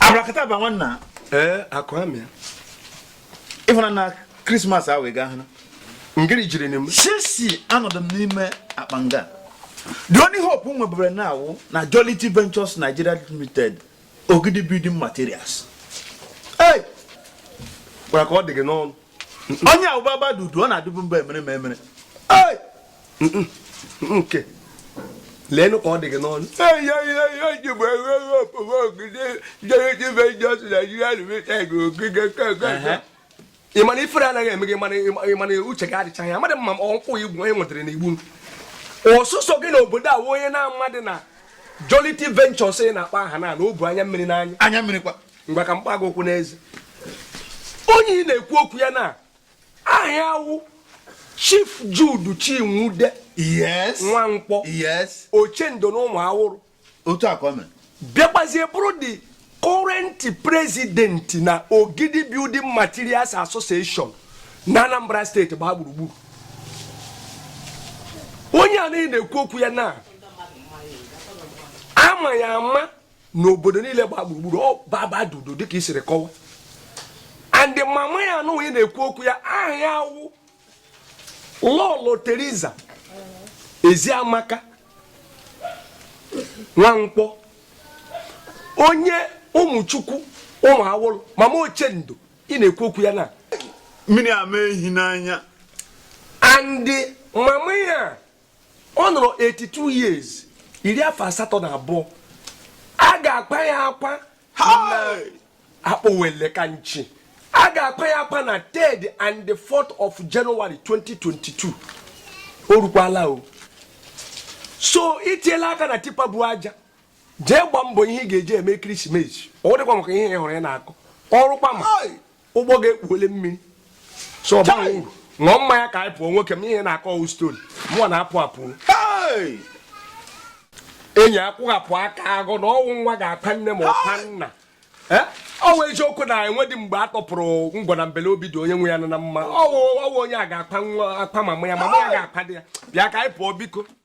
abrakataba nwanna ee akụ amịa ịfụna na krismas ahụ ị ga-ahụ ngiri jiri n'im sisi anọdị m n'ime akpa nga the only hope m nwebere na awụ na jolity ventures nigeria limited ogidi building materials Hey! gwara ka ọ dị gị n'ọnụ onye a wụ baba dudu ọ na-adịbu mba emere ma emere Hey! nke leenụ ka ọ dị gị n'ọnụ ị ma na ifere anaghị eme gị mana uche gị adịchaghị ya amadị m ma ọ nkwụ igwu onye nwetara na igbu ọ sọsọ gị na obodo a onye na-amadị na Jolity Ventures ị na-akpa aha na na-ebu anya mmiri n'anya anya mmiri kwa ngwa ka m kpa gị okwu n'eze onye ị na-ekwu okwu ya na aha ya wụ Chief Jude Chinwude yes Nwankwọ yes Ochendo na Ụmụawụlụ otu a ka ọ mere bịakwazie bụrụ the current president na Ogidi Building Materials Association na Anambra steeti gbaa gburugburu onye a na-ekwu okwu ya na a ma ya ama n'obodo niile gbaa gburugburu ọ baba dudu dịka i siri kọwa and mama ya nwụrụ ị na-ekwu okwu ya aha ya awụ Lọlọ Teresa Eziamaka Nwankwọ onye ụmụchukwu Ụmụawụlụ mama ochendo ị na-ekwu okwu ya na mmiri ama ehi n'anya and mama ya ọ nọrọ 82 years iri afọ asatọ na abụọ a ga-akpa ya akwa akpọwele ka nchi a ga-akpa ya akwa na 3rd and the 4th of January 2022 o rukwala o so itiela aka na tipa bu aja jee gba mbọ ihe ị ga-eji eme krisimesi ọ wụdịkwa maka ihe ị hụrụ ị na-akọ o rukwa ma ụgbọ ga-ekpuole mmiri so ọ baghị uru ṅụọ mmanya ka anyị pụọ nwoke m ihe ị na-akọ ọ wụ story mụwa na-apụ apụ enyi akwụghapụ aka agụ na ọ wụ nwa ga-akpa nne ma ọ kpa nna ọ wụ eziokwu na enwedị mgbe a tọpụrụ ngwọ na mbele obi dị onye nwe ya nọ na mma ọ wụ ọ wụ onye a ga-akpa nwa akpa mama ya mama ya ga-akpa di ya bịa ka anyị pụọ biko